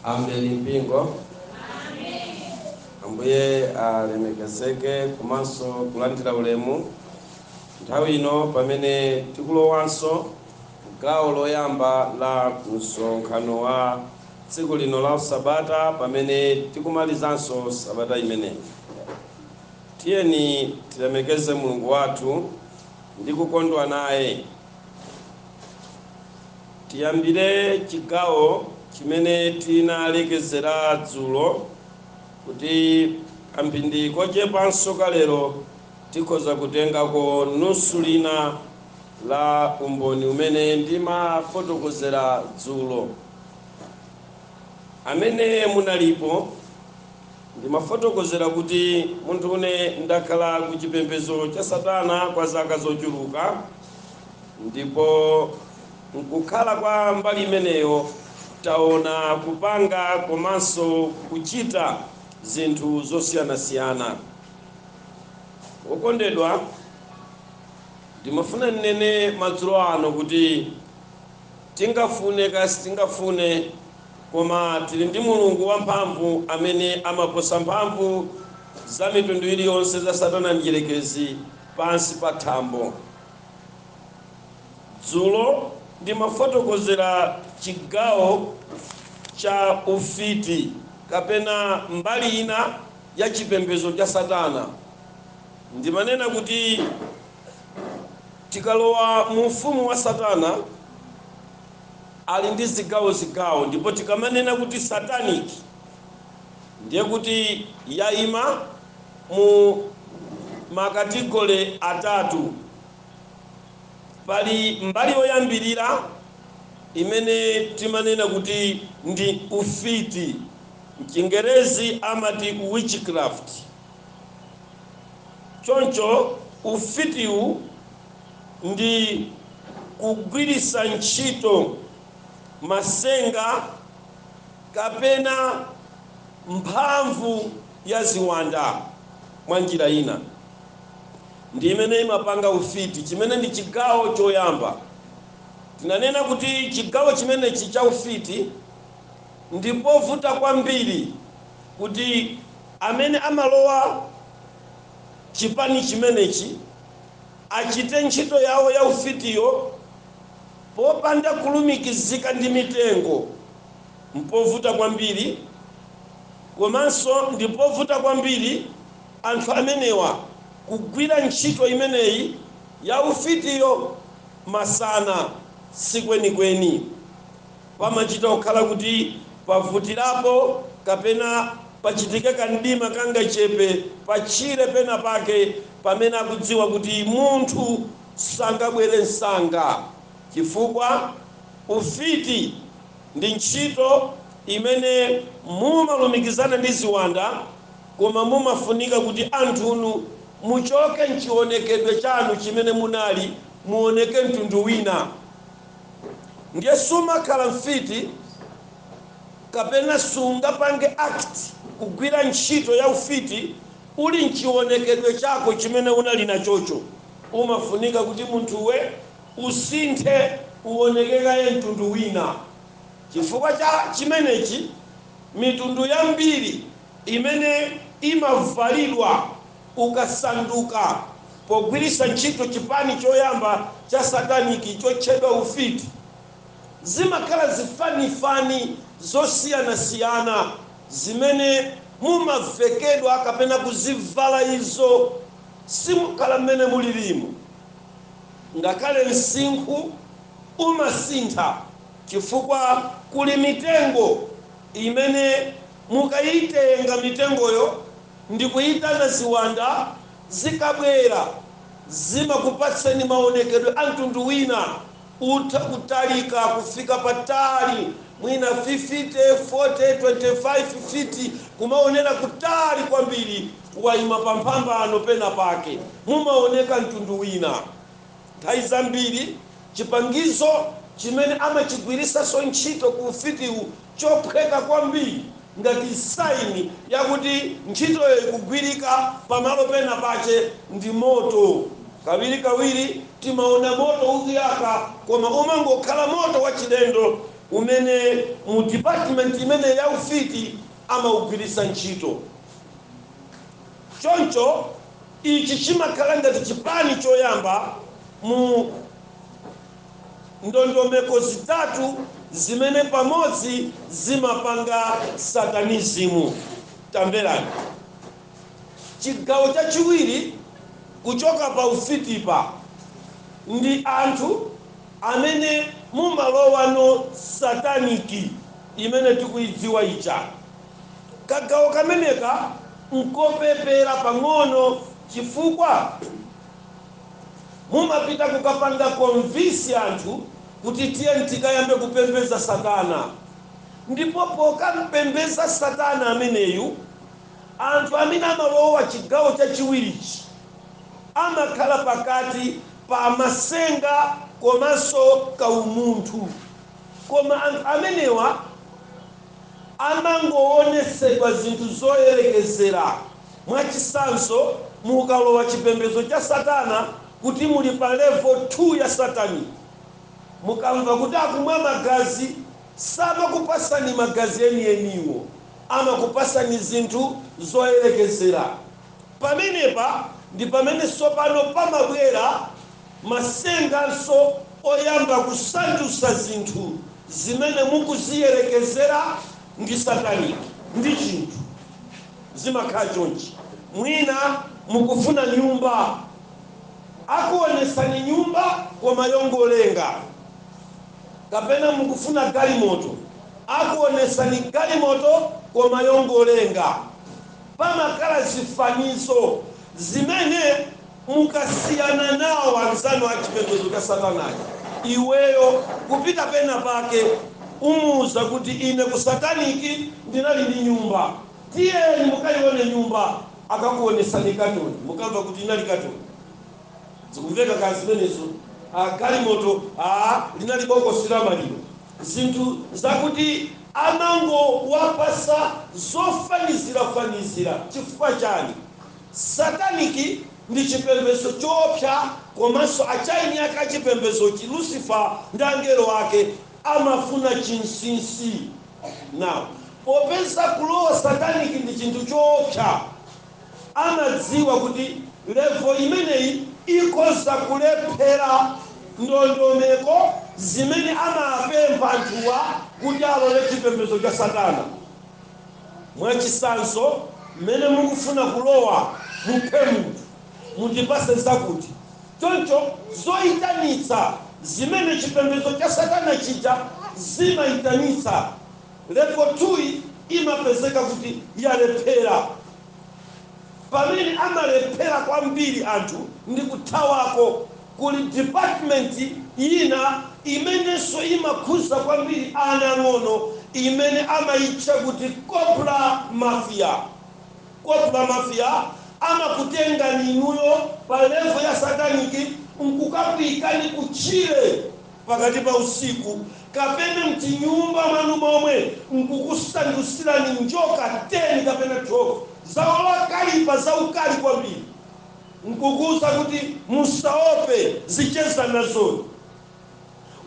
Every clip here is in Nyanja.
abale mu mpingo ambuye alemekezeke komanso kulandira ulemu nthawi ino pamene tikulowanso gawo loyamba la msonkhano wa tsiku lino la sabata pamene tikumalizanso sabata imeneyi. Tiyeni tilemekeze Mulungu wathu ndi kukondwa naye. Tiyambire chigawo chimene tinalekezera dzulo kuti kamphindi kochepanso ka lero tikhoza kutengako nusu lina. la umboni umene ndimafotokozera dzulo. Amene munalipo, ndimafotokozera kuti munthu une ndakhala ku chipembedzo cha Satana kwa zaka zochuluka, ndipo m'kukhala kwa mbali imeneyo taona kupanga komanso kuchita zinthu zosiyanasiyana. Wokondedwa, Ndimafuna ndinene madzulo ano kuti tingafune kaya sitingafune koma tili ndi Mulungu wamphamvu amene amaposa mphamvu za mitundu iliyonse za Satana Mdyerekezi pansi pa thambo. Dzulo ndimafotokozera chigawo cha ufiti kapena mbali ina ya chipembedzo cha Satana. Ndimanena kuti tikalowa mu ufumu wa Satana ali ndi zigawo zigawo ndipo tikamanena kuti satanic ndiye kuti yaima mu ma category atatu. Pali mbali yoyambirira imene timanena kuti ndi ufiti, mchingerezi amati witchcraft. Choncho ufitiwu ndi kugwiritsa ntchito matsenga kapena mphamvu ya ziwanda mwa njira ina ndi imene imapanga ufiti, chimene ndi chigawo choyamba. Tinanena kuti chigawo chimenechi cha ufiti ndi povuta kwambiri kuti. Amene amalowa chipani chimenechi achite ntchito yawo ya ufitiyo popanda kulumikizika ndi mitengo mpovuta kwambiri komanso ndipovuta kwambiri anthu amenewa kugwira ntchito imeneyi ya ufitiyo masana sikwenikweni Pamachita kukhala kuti pavutirapo kapena pachitike kamdima kangachepe patchire penapake pamene akudziwa kuti munthu sangabwere msanga chifukwa ufiti ndi ntchito imene mumalumikizana ndi ziwanda koma mumafunika kuti anthunu muchoke m'chionekedwe chanu chimene munali muoneke mtundu wina. ndiye sumakhala mfiti kapena sungapange act kugwira ntchito ya ufiti uli mchionekedwe chako chimene unali nachocho. Umafunika kuti munthuwe usinthe uoneke kaye mtundu wina. Chifukwa cha chimenechi mitundu yambiri imene imavalidwa. ukasanduka, pogwiritsa ntchito chipani choyamba cha satanic chotchedwa ufiti, zimakhala zifanifani zosiyanasiyana zimene mumavekedwa kapena kuzivala izo simukhala mmene mulilimu. Ngakhale msinkhu umasintha chifukwa kuli mitengo imene mukaitenga mitengoyo Ndikuitana ziwanda, zikabwera zimakupatsani maonekedwe a mtundu wina. Utha kutalika kufika patali mwina 50, 40, 25 feet kumaonera kutali kwambiri. Waima pamphambano pena pake mumaoneka mtundu wina. Nthawi zambiri chipangizo chimene amachigwiritsanso ntchito ku ufitiwu chophweka kwambiri ngati sign yakuti ntchitoyo ikugwirika pamalo pena pache ndi moto. Kawirikawiri timaona moto ukuyaka koma umangokhala moto wachilendo umene mu department imene ya ufiti amaugwiritsa ntchito choncho. Ichi chimakhala ngati chipani choyamba mu ndondomeko zitatu zimene pamodzi zimapanga Satanism. Tamverani. Chigawo chachiwiri kuchoka pa ufitipa ndi anthu amene mumalowano sataniki imene tikuidziwa ija. Kagawo kameneka nkopepera pang'ono chifukwa mumapita kukapanga convince anthu kuti tiye tikayambe kupembeza satana ndipo pokampembeza satana ameneyu anthu amene amalowa chigawo chachiwirichi amakhala pakati pa masenga komanso ka umunthu koma anthu amenewa amangowonetsedwa zinthu zoyerekezera. Mwachitsanzo, mukalowa chipembedzo cha Satana kuti muli pa level 2 ya satanic. Mukamva kuti akumwa magazi, samakupatsani magazi enieniwo. Amakupatsani zinthu zoyerekezera. Pamenepa ndi pamene tsopano pamabwera. masenganso oyamba kusandusa zinthu zimene mukuziyerekezera ndi satanic ndi chinthu. Zimakhala chonchi mwina mukufuna nyumba akuonesani nyumba koma yongolenga kapena mukufuna galimoto akuonesani galimoto koma yongolenga. Pamakhala zifanizo zimene. Mukasiyana nawo anzanu a chipembedzo cha Satana aja, iweyo kupita pena pake umuuza kuti ine ku satanic ndinali ndi nyumba, tiyeni mukaione nyumba, akakuonetsani katoni, mukamva kuti inali katoni, zikumveka kaya zimenezo, galimoto linali bokosi la maliro, zinthu zakuti, amangowapatsa zofanizira fanizira chifukwa chani? Satanic ndi chipembezo choopsa komanso achieni ake a chipembezochi Lucifer ndi angelo ake amafuna chinsinsi now popeza kulowa satanic ndi chinthu choopsa amadziwa kuti level imeneyi ikhoza kulephera ndondomeko zimene amapempha anthuwa kuti alowe chipembezo cha satana. Mwachisanzo mmene mukufuna kulowa muphe munthu mundipase zakuti. Choncho zoitanitsa zimene chipembedzo cha satana chija zimaitanitsa level 2 yi imapezeka kuti yalephera. Pamene amalephera kwambiri anthu ndi kuthawako, kuli department yina imenenso imakhuza kwambiri ana ang'ono imene amayitcha kuti Cobra Mafia. Cobra Mafia amakutengani inuyo pa level ya satanic nkukakuyikani kutchire. pakati pa usiku kapena mtinyumba mwanu momwe nkukusandusirani njoka 10 kapena 12 zowalakalipa za ukali kwambiri nkukuuza kuti musaope zichezana nazoni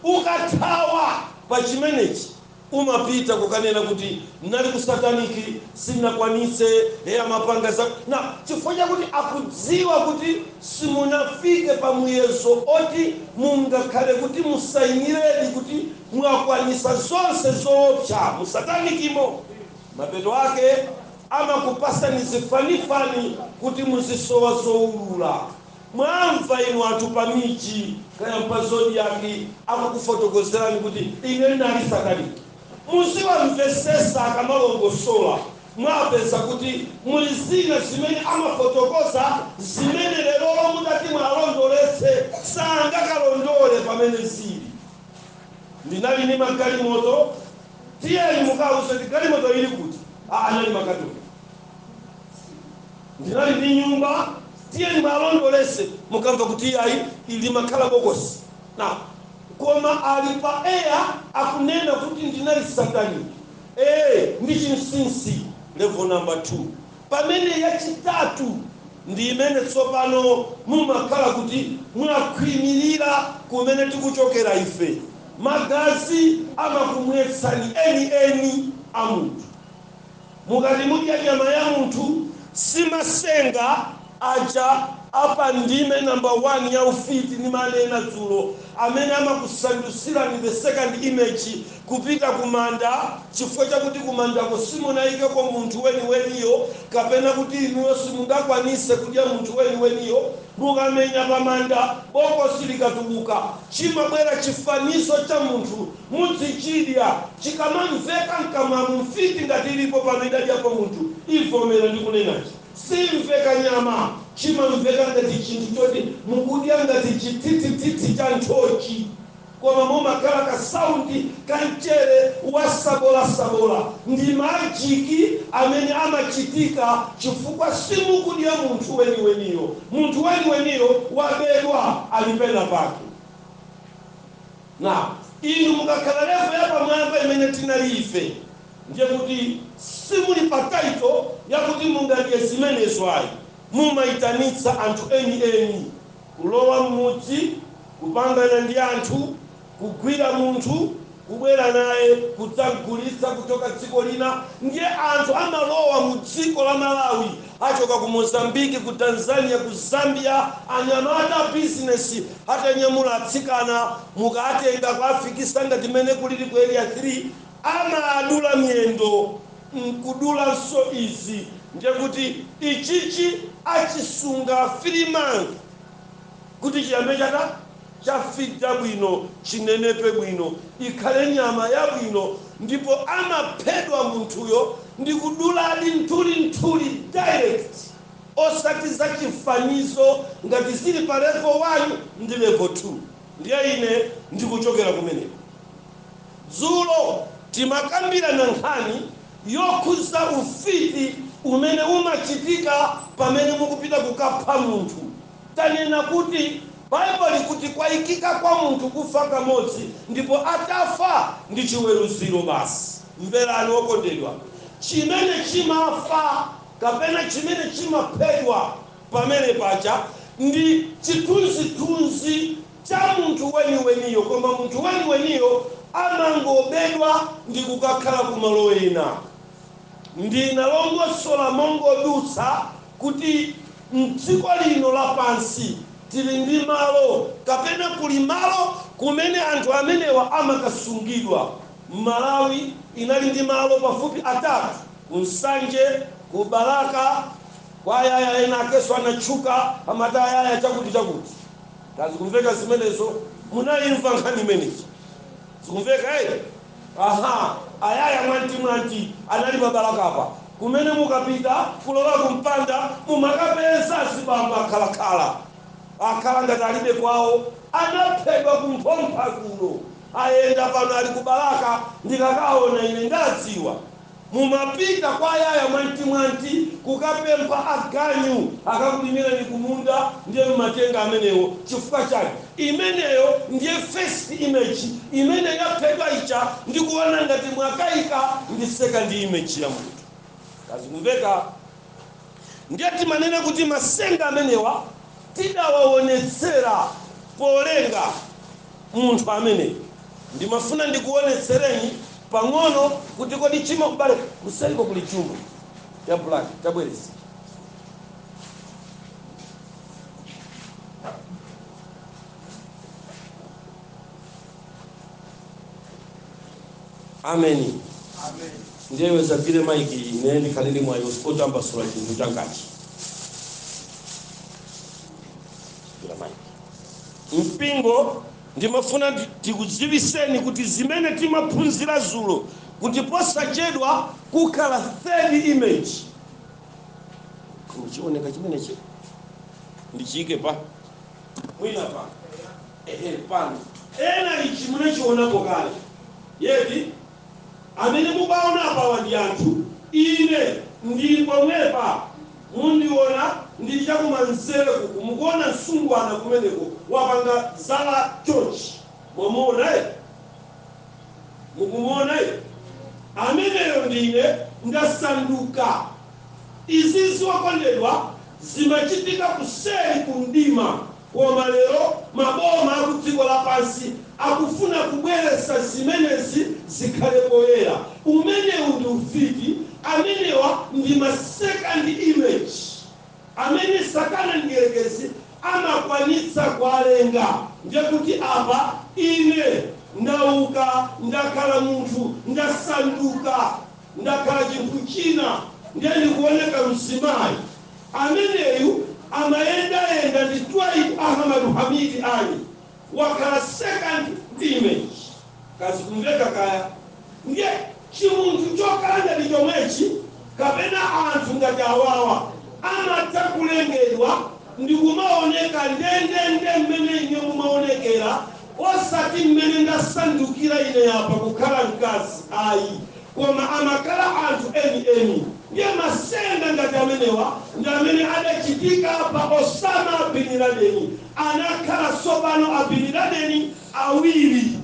ukathawa pa chimenechi. umapita kukanena kuti nali ku satanic sinakwanitse ee amapanga za na chifukwa chakuti akudziwa kuti simunafike pa muyezo oti mungakhale kuti musainiredi kuti mwakwanisa zonse zoopsa mu satanic mo mapeto ake amakupasani zifanifani kuti muzisowa zoulula Mwamva inu anthu pa miji, kaya mpa zodiak akukufotokozerani kuti ine ndinali satanic. Muziwamvesesa akamalongosola, mwapeza kuti muli zina zimene amafotokoza zimene lerolo mutati mualondoletse sangakalondole pamene zili. Ndinali ndi magalimoto, tiyeni mukawauze kuti galimoto ili kuti? Aa anali makatoni. ndinali ndi nyumba tiyeni mwalondolese mukamva kuti iyayi limakhala bokosi na koma ali pa air akunena kuti ndinali satanic ee ndi chinsinsi level number 2 pamene yachitatu ndi imene tsopano mumakhala kuti mwakhwimirira kumene tikuchokera ife magazi amakumwetsani eni eni a munthu Mukati mudya nyama ya munthu, si masenga aja a pa ndime namba 1 ya Ufiti nimanena dzulo amene amakusandutsirani the second image kupita kumanda chifukwa chakuti kumandako simunaikeko munthu weniweniyo kapena kuti inuyo simungakwanise kudya munthu weniweniyo. Mukamenya pamanda, bokosi likatuluka, chimabwera chifanizo cha munthu Mudzichidya. Chikamamveka m'kamwamu, mfiti ngati ilipo pano idadyapo munthu, ivomera ndikunenachi. Siimveka nyama. Chimamveka ngati chinthu choti mukudya ngati chithithithithi cha nthochi koma mumakhala ka sound ka mchere wa sabolasabola. Ndi majiki amene amachitika chifukwa simukudya munthu weniweniyo. Munthu weniweniyo wabedwa, ali penapake. Now, inu mukakhala level yapamwamba imene tinali ife, ndiye kuti simuli pa title yakuti mungadye zimenezo ayi, mumaitanitsa anthu eni eni, kulowa mmudzi, kupangana ndi anthu, kugwira munthu, kubwera naye kudzamgulitsa kuchoka dziko lina, ndiye anthu amalowa mu dziko la Malawi achoka ku Mozambique ku Tanzania ku Zambia anyamata a business atanyamula atsikana mukatenga kuafikisa ngati mmene kulili ku area 3 amaadula miyendo nkudulanso izi ndiye kuti ichichi achisunga 3 months Kuti chiyambe chadya chafita bwino chinenepe bwino ikhale nyama yabwino ndipo amaphedwa munthuyo ndi kuduladi nthulinthuli direct osati za chifanizo ngati zili pa level 1 ndi level 2 ndiye ine ndikuchokera kumeneko. Dzulo timakambirana nkhani yokhuza ufiti umene umachitika pamene mukupita kukapha munthu. Tanena kuti Bible likuti kwaikika kwa munthu kufa kamodzi ndipo atafa ndi chiweruziro basi. Mverani okondedwa, chimene chimafa kapena chimene chimaphedwa pamene paja ndi chithunzithunzi cha munthu weniweniyo koma munthu weniweniyo amangobedwa ndi kukakhala kumalo ena. Ndinalongosola mongodutsa kuti m'dziko lino lapansi tili ndi malo kapena kuli malo kumene anthu amenewa amakasungidwa. Malawi inali ndi malo pafupi atatu, ku Nsanje, ku Balaka, kwa Ayaya ena akenso anatchuka amati Ayaya chakuti chakuti. Ka zikumveka zimenezo? Munaimva nkhani imene ija? Zikumveka eti? Aha, ayaya mwanti mwanti anali pa Balaka apa kumene mukapita kulowa ku mpanda mumakapeza azibambo akhala khala akhala ngati alibe kwawo anaphedwa ku Mphompha kuno ayenda pano ali ku Balaka ndikakaona ine ndadziwa. Mumapita kwa ayaya mwantimwanti kukapempha aganyu akakulimireni kumunda ndiye mumatenga amenewo chifukwa chake imeneyo ndiye first image imene yaphedwa ija ndikuona ngati mwakaika ndi second image ya munthu. Ka zikumveka? Ndiye timanena kuti masenga amenewa tidawaonetsera polenga munthu ameneyu. Ndimafuna ndikuonetsereni pang'ono kuti kodi chima. M'bale, kuseriko kuli jumbo ya black tabweretsa. ameni ndiye udzagwire maiki ine ndikhale ndi mwayi otambasula chinthu changachi Gwira maiki. mpingo ndimafuna ndi- tikudziwiseni kuti zimene timaphunzira dzulo kuti posachedwa kukhala third image chioneka chimenechi ndichiyike pa mwina pa Ehe pano ena ichi munachionapo kale yeti amene mukuwaona apawa ndi anthu ine ndili pomwepa mundiona ndili chakumanzere kuku mukuona msungwana kumeneko wapanga zala chonchi mwamuona eti mukumuona eti ameneyo ndine ndasanduka izizi okondedwa zimachitika kuseri kumdima Koma lero maboma akudziko lapansi akufuna kubweretsa zimenezi zikhale poyera. Umenewu ndi ufiti. Amenewa ndi ma second image amene satana mdierekezi amakwanitsa kualenga. Ndiye kuti apa ine ndauka ndakhala munthu, ndasanduka, ndakhala chinthu china, ndiye ndikuoneka mzimayi. Ameneyu amayendayenda ndi Twaibu Ahamadu Hamidi Ali wakhala second image kaya zikumveka kaya ndiye chimunthu chokhala ngati chomwechi kapena anthu ngati awawa amatha kulengedwa ndikumaoneka ndendende mmene ine ndimaonekera osati mmene ndasandukira ine apa kukhala mkazi ayi Koma amakhala anthu eni eni. Ndiye masenga ngati amenewa ndi amene adachitika pa Osama Bin Ladeni. Anakhala tsopano a Bin Ladeni awiri.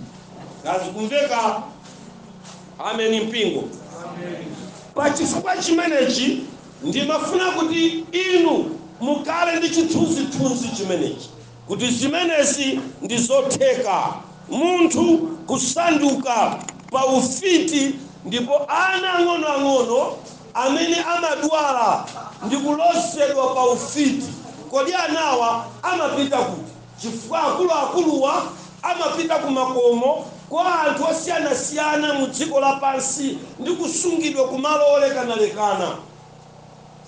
Ka zikumveka? Ameni mpingo. Pa chifukwa chimenechi ndimafuna kuti inu mukhale ndi chithunzi thunzi chimenechi. kuti zimenezi ndi zotheka, munthu kusanduka pa ufiti ndipo ana ang'onoang'ono amene amadwala ndi kulozedwa pa ufiti. Kodi anawa amapita kuti? Chifukwa akuluakuluwa amapita ku makomo kwa anthu osiyanasiyana mu dziko lapansi ndi kusungidwa ku malo olekanalekana.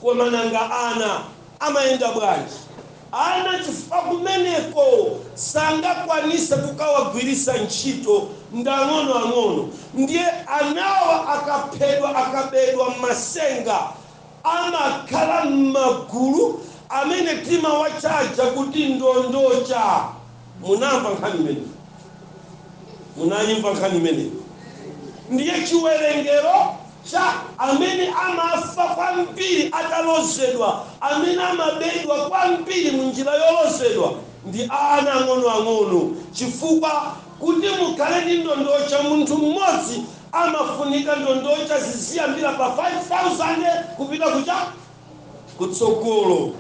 Koma nanga ana amayenda bwanji? Ana chifukwa kumeneko sangakwanise kukawagwirisa ntchito ndi ang'onoang'ono ndiye anawa akaphedwa akabedwa mmasenga amakhala mmagulu amene timawachaja kuti ndondocha munamva nkhani imeneyo munaimva nkhani imeneyo ndiye chiwerengero cha amene amafa kwambiri atalozedwa, amene amabedwa kwambiri mu njira yolozedwa, ndi ana ang'onoang'ono, chifukwa kuti mukhale ndi ndondocha munthu mmodzi amafunika ndondocha ziziyambira pa 5,000 kupita ku cha? kutsogolo.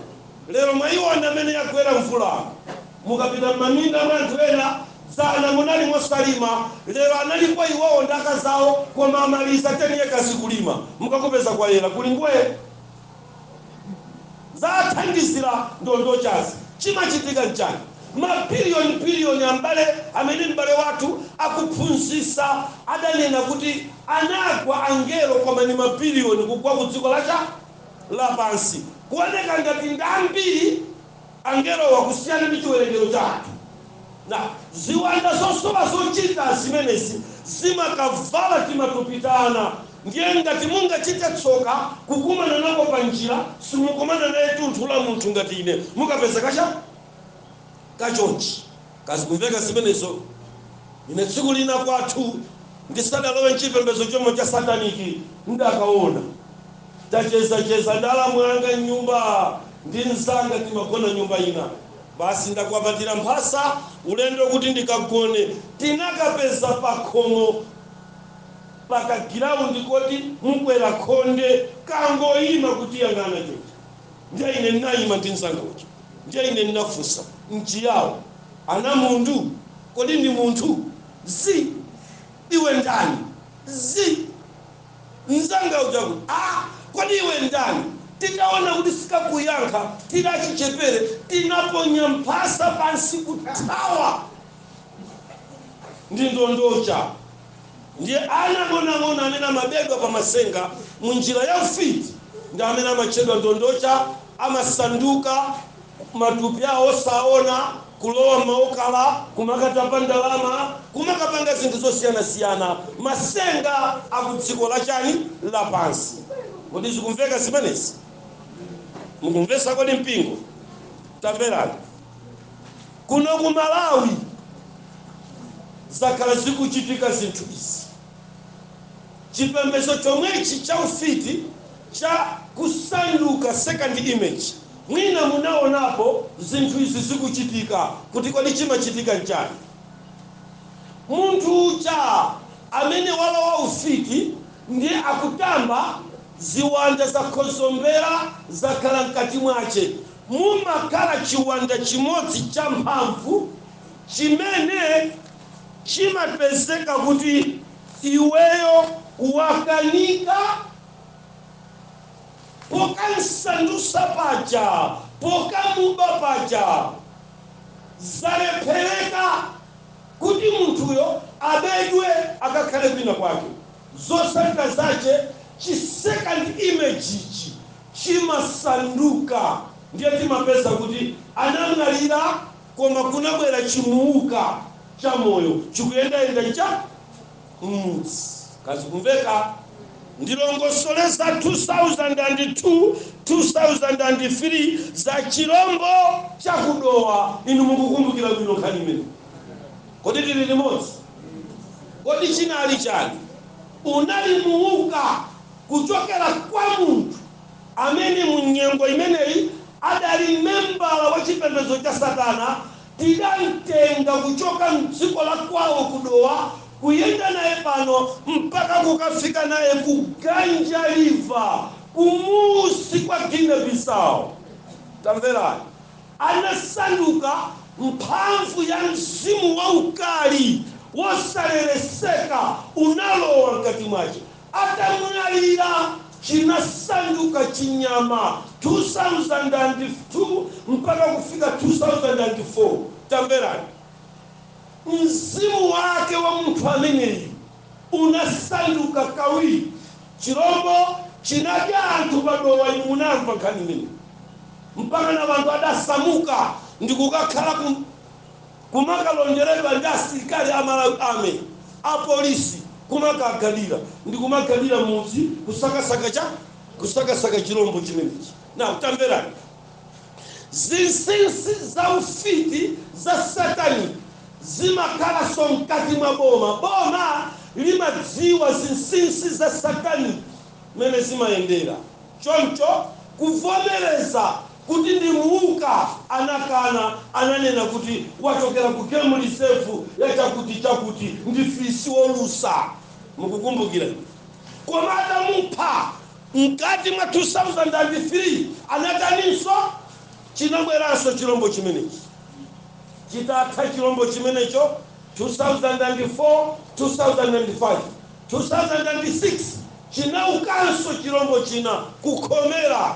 Lero mwaiona mmene yagwera mvula. Mukapita m'maminda mwa anthu ena, dzana munali mosalima, lero analipo iwowo ndi akazi awo koma amaliza 10 ekazi kulima. Mukakupeza kwayera, kuli ngwee. Zathandizira ndondochazi. Chimachitika n'chani? Mabiliyonibiliyoni abale amene m'bale wathu akuphunzitsa adanena kuti anagwa angelo koma ndi mabiliyoni kugwa ku dziko la cha lapansi kuoneka ngati ndi ambiri angelowa kusiyana ndi chiwerengero chathu nde ziwanda zosowa zochita zimenezi zimakavala timatupi ta ana ndiye ngati mungachite tsoka kukumana nako pa njira simukumana naye tunthu la munthu ngati ine mukapeza kacha ka chonchi kodi zikumveka zimenezo? Ine tsiku lina kwathu ndisadalowe mchipembedzo chomwe cha sataniki ndinakaona tachezacheza ndi alamu anga mnyumba ndi mzanga timagona nyumba ina basi ndakwapatira mphasa ulendo kuti ndikagone tinakapeza pakhomo pagiraundi koti mukwera khonde kangoyima kutiyang'ana chonchi ndiye ine ndinayima ndi mzanga uja Ndiye ine ndinafunsa, m'Chiyao? Ana mundu? Kodi ndi munthu? Zi! Iwe ndani? Zi! Mzanga uja akuti, Ha! Kodi iwe ndani? Titaona kuti sikakuyankha, tidali achichepere tinaponya mphasa pansi kuthawa ndi ndondocha. Ndiye ana ang'onoang'ono amene amabedwa pa matsenga mu njira ya ufiti ndi amene amatchedwa ndondocha amasanduka matupi awo osaona, kulowa m'maokala, kumakatapa ndalama, kumakapanga zinthu zosiyanasiyana, matsenga a ku dziko la chani? lapansi. Kodi zikumveka zimenezi? Mukumvetsa kodi mpingo? Tamverani. Kuno ku Malawi zakhala zikuchitika zinthu izi. Chipembedzo chomwechi cha ufiti cha kusanduka second image, mwina munaonapo zinthu izi zikuchitika kuti kodi chimachitika nchani? Munthu uja amene walowa ufiti ndiye akutamba, ziwanda zakhozombera zakhala mkati mwache, mumakhala chiwanda chimodzi champhamvu chimene chimapezeka kuti iweyo wakanika pokamsandusa paja, pokamuba paja, zalephereka kuti munthuyo abedwe akakhale kwina kwake, zotsatira zache chi second image ichi chimasanduka ndiye timapeza kuti anamwalira koma kunabwera chimuuka cha moyo chikuyendayenda cha mmudzi. Kodi zikumveka ndilongosole za 2002 2003 za chilombo cha ku Dowa inu mukukumbukira bwino nkhani imene kodi tili limodzi kodi chinali chani unali muuka kuchokera kwa munthu amene mu nyengo imeneyi adali membala wa chipembedzo cha satana, tidamtenga kuchoka mdziko la kwawo ku Dowa kuyenda naye pano mpaka kukafika naye ku Ganja River kumusi kwa Guinea Bissau. Tamverani, anasanduka mphamvu ya mzimu waukali wosalereseka unalowa mkati mwache. atamwalira chinasanduka chinyama, 2002 mpaka kufika 2004. Tamverani, mzimu wake wa munthu ameneyu unasanduka kawiri, chirombo chinadya anthu pa Dowa, inu munamva nkhani imeneyi, mpakana anthu adasamuka ndikukakhala kumakalonderedwa ndi asilikali a Malawi Army, a polisi, kumakagadira ndi kumagadira mudzi kusakasaka cha? Kusakasaka chirombo chimenechi. Now tamverani zinsinsi za ufiti za satanic zimakhalanso mkati mwa boma. Boma limadziwa zinsinsi za satanic mmene zimayendera, choncho kuvomereza kuti ndi muuka, anakana, ananena kuti wachokera ku game reserve ya chakuti chakuti ndi fisi wolusa mukukumbukira? koma atamupha mkati mwa 2003 anataninso chinabweranso chilombo chimenechi chitatha chilombo chimenecho 2004 2005 2006 chinaukanso chilombo china kukhomera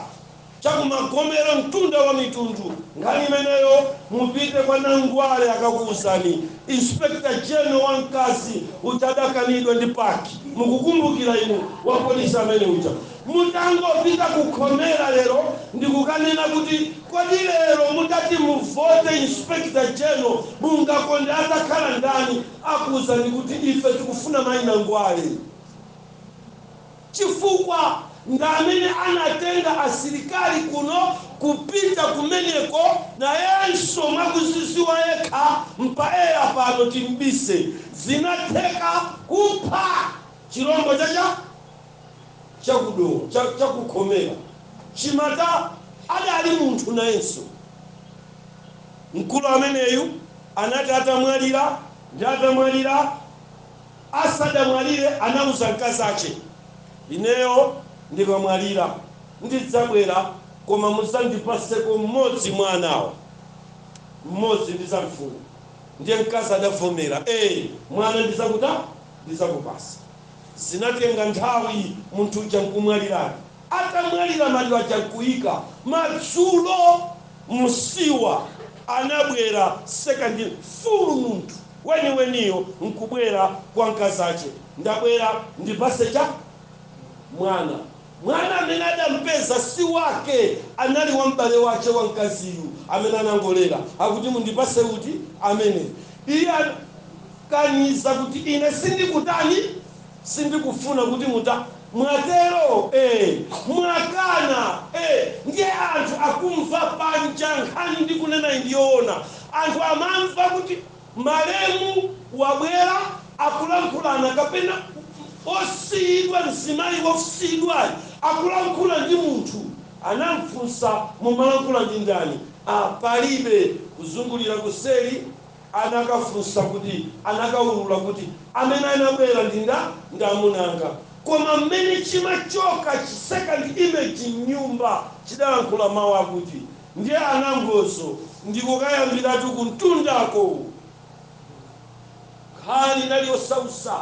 cha ku magomero mtunda wa mitundu nkhani imeneyo mupite kwa Nangwale akakuuzani inspector general wa mkazi utadakanidwa ndi PAC mukukumbukira inu? wa polisi amene uja mutangopita ku khomera lero ndikukanena kuti kodi lero mutati muvote inspector general mungakonde atakhala ndani? akuuzani kuti ife tikufuna mayi Nangwale. chifukwa ndamene anatenga asilikali kuno kupita kumeneko nayenso mwakuziziwa yekha mpaeya pano timbise zinatheka kupha chilombo cha cha chaku Dowa cha chaku khomera chimata adali munthu nayenso mkulu ameneyu anati atamwalira ndi atamwalira Asadamwalire anauza mkazache, ineyo ndikamwalira ndidzabwera koma muzandipaseko mmodzi mwa anawa. Mmodzi ndizamfuna. Ndiye mkazi adavomera, ee mwana ndizakuta, ndizakupasa. Zinatenga nthawi munthu uja nkumwaliradi. Atamwalira maliro aja nkuika. Madzulo usiku anabwera second full munthu. weniweniyo nkubwera kwa mkazache, ndabwera ndipase cha mwana. Mwana amene adampeza si wake, anali wa m'bale wache wa mkaziyu amene anangolera. Akuti, Mundipase kuti? Amene. Iye anakaniza kuti, Ine sindikutani? Sindikufuna kuti muta. Mwatero? Eh, mwakana! Eh, ndiye anthu akumva panja nkhani ndikunenayi ndi yoona. Anthu amamva kuti malemu wabwera akulankhulana kapena wosiyidwa mzimayi wosiyidwayi akulankhula ndi munthu. Anamfunsa, Mumalankhula ndi ndani? Ah, palibe. Kuzungulira kuseri. anakafunsa kuti, anakaulula kuti, amene anabwera ndi nda, ndi amuna anga. Koma mmene chimachoka chi second image m'nyumba chidalankhula mawu akuti, ndiye anangozo ndikukayambiratu kumtundako! Nkhani inali yosausa.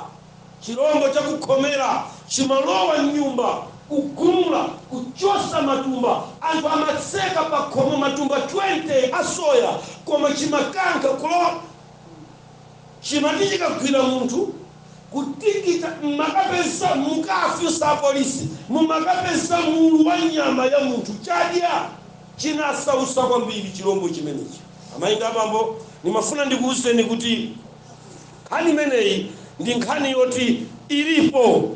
Chilombo chakukhomera chimalowa m'nyumba, kugumula, kuchotsa matumba. Anthu amatseka pakhomo matumba 20 a soya, koma chimakankha kulowa m'nyumba. Chimati chikagwira munthu, kutikita, m'makapeza, mukafunse apolisi, mumakapeza mulu wa nyama ya munthu. Chadya, chinasautsa kwambiri chilombo chimenechi. Amayi ndi abambo, ndimafuna ndikuuzeni kuti. Nkhani imeneyi ndi nkhani yoti ilipo.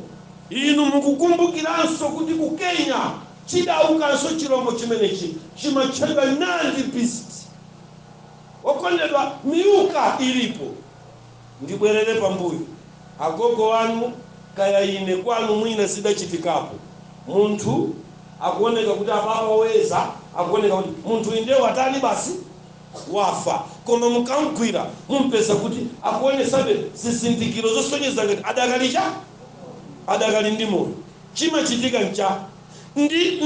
Inu mukukumbukiranso kuti ku Kenya chidawukanso chilombo chimenechi, chimatchedwa Nandi beast. Okondedwa, Miuka ilipo. Ndibwerere pambuyo, agogo wanu kaya ine kwanu mwina zidachitikapo. Munthu akuoneka kuti apapa oyeza akuoneka kuti munthuyu ndiye watani basi. wafa koma mukamgwira mumpeza kuti akuonetsabe zizindikiro zosonyeza ngati adakali cha? Adakali ndi moyo. Chimachitika ncha? Ndi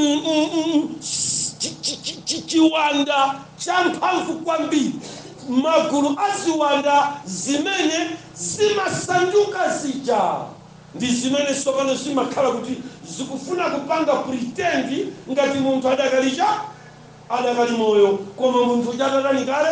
chiwanda cha mphamvu kwambiri, magulu a ziwanda zimene zimasanduka zija ndi zimene tsopano zimakhala kuti zikufuna kupanga pretend ngati munthu adakali cha? adakali moyo koma munthu uja atatani kale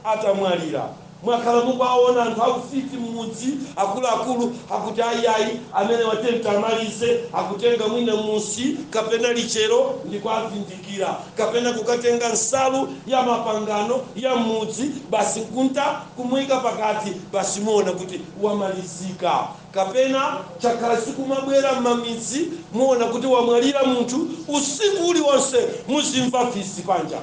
atamwalira mwakhala mukuwaona anthu aufiti mmudzi akuluakulu akuti ayi ayi amenewa tiyeni tiamalize akutenga mwina musi kapena lichero ndikuavindikira kapena kukatenga nsalu ya mapangano ya mmudzi basi nkunta kumuika pakati basi muona kuti wamalizika kapena zakhala zikumabwera mmamidzi muona kuti wamwalira munthu usiku uliwonse muzimva fisi panja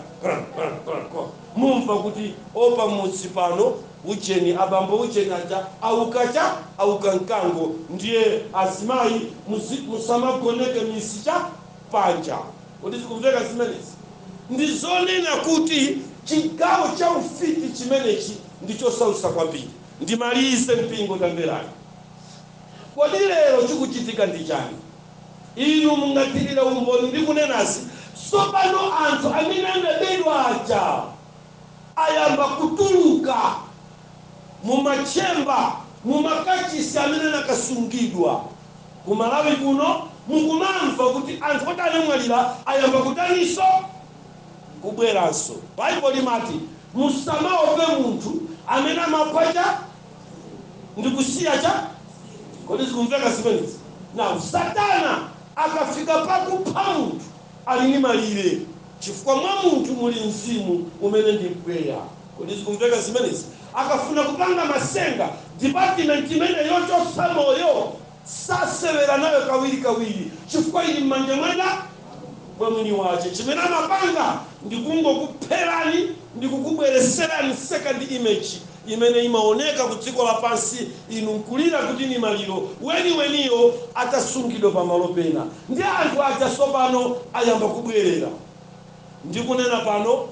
mumva kuti o pamudzi pano ujeni abambo ujeni aja auka cha auka mkango ndiye azimayi musamagoneke misi cha? Panja kuti zikumveka zimenezi ndi zonena kuti chigawo cha ufiti chimenechi ndi chosausa kwambiri. ndimalize. Mpingo, tamverani. Kodi lero chikuchitika ndi chani? Inu mungathirire umboni ndikunenazi, Tsopano anthu amene anabedwa aja ayamba kutuluka mu matchemba, mu makachisi amene anakasungidwa. Ku Malawi kuno mukumamva kuti anthu oti anamwalira ayamba kutaninso? kubweranso. Bible limati musamaope munthu amene amapha ncha ndikusiya cha kodi zikumveka zimenezi now satana akafika pakupha munthu ali ndi malire chifukwa mwa munthu muli mzimu umene ndi mpweya kodi zikumveka zimenezi akafuna kupanga masenga department imene yochotsa moyo sasewera nayo kawiri kawiri chifukwa ili mmanja mwa mwini wache chimene amapanga ndi kungokupherani ndi kukubwereserani second image imene imaoneka ku dziko lapansi inu nkulira kuti ndi maliro weni weniyo atasungidwa pa malo pena ndiye anthu aja sopano ayamba kubwerera ndikunena pano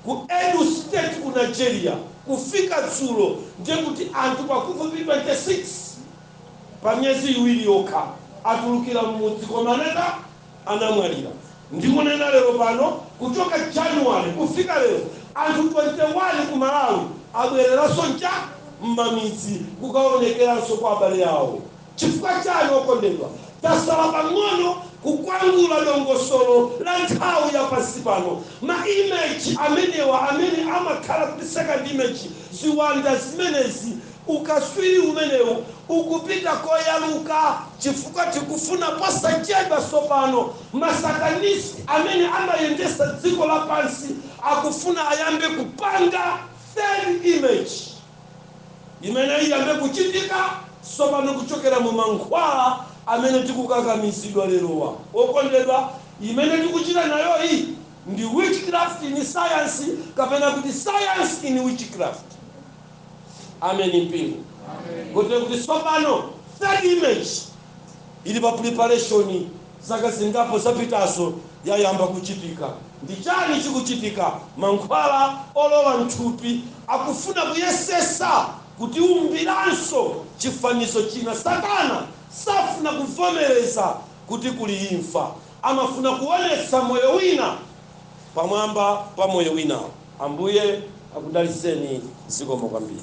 ku edo state ku nigeria kufika dzulo ndiye kuti anthu pafupifupi 26 pa miyezi iwiri yokha atulukira mmudzi koma naye anamwalira ndikunena lero pano kuchoka January kufika lero anthu 21 ku Malawi abwereranso ncha mmamidzi kukaonekeranso kwa abale awo chifukwa chani okondedwa tasala pang'ono kukwangula dongosolo la nthawi ya pansi pano ma image amenewa amene amakhala kuti second image ziwanda zimenezi Ukaswiri umenewu ukupita koyaluka chifukwa tikufuna posachedwa tsopano masatanisi amene amayendesa dziko lapansi akufuna ayambe kupanga third image imene iyambe kuchitika tsopano kuchokera mu mankhwala amene tikukakamizidwa lerowa okondedwa imene tikuchita nayoyi ndi witchcraft in science kapena kuti science in witchcraft. Amen, mpingo. Kuti kuti tsopano third image ili pa preparation, zaka zingapo zapitazo, yayamba kuchitika. Ndi chani chikuchitika? Mankhwala olowa mthupi akufuna kuyesesa kutiumbiranso chifanizo china. Satana safuna kuvomereza kuti kuli imfa. Amafuna kuonetsa moyo wina pamwamba pa moyo wina. Ambuye akudalitseni zikomo kwambiri.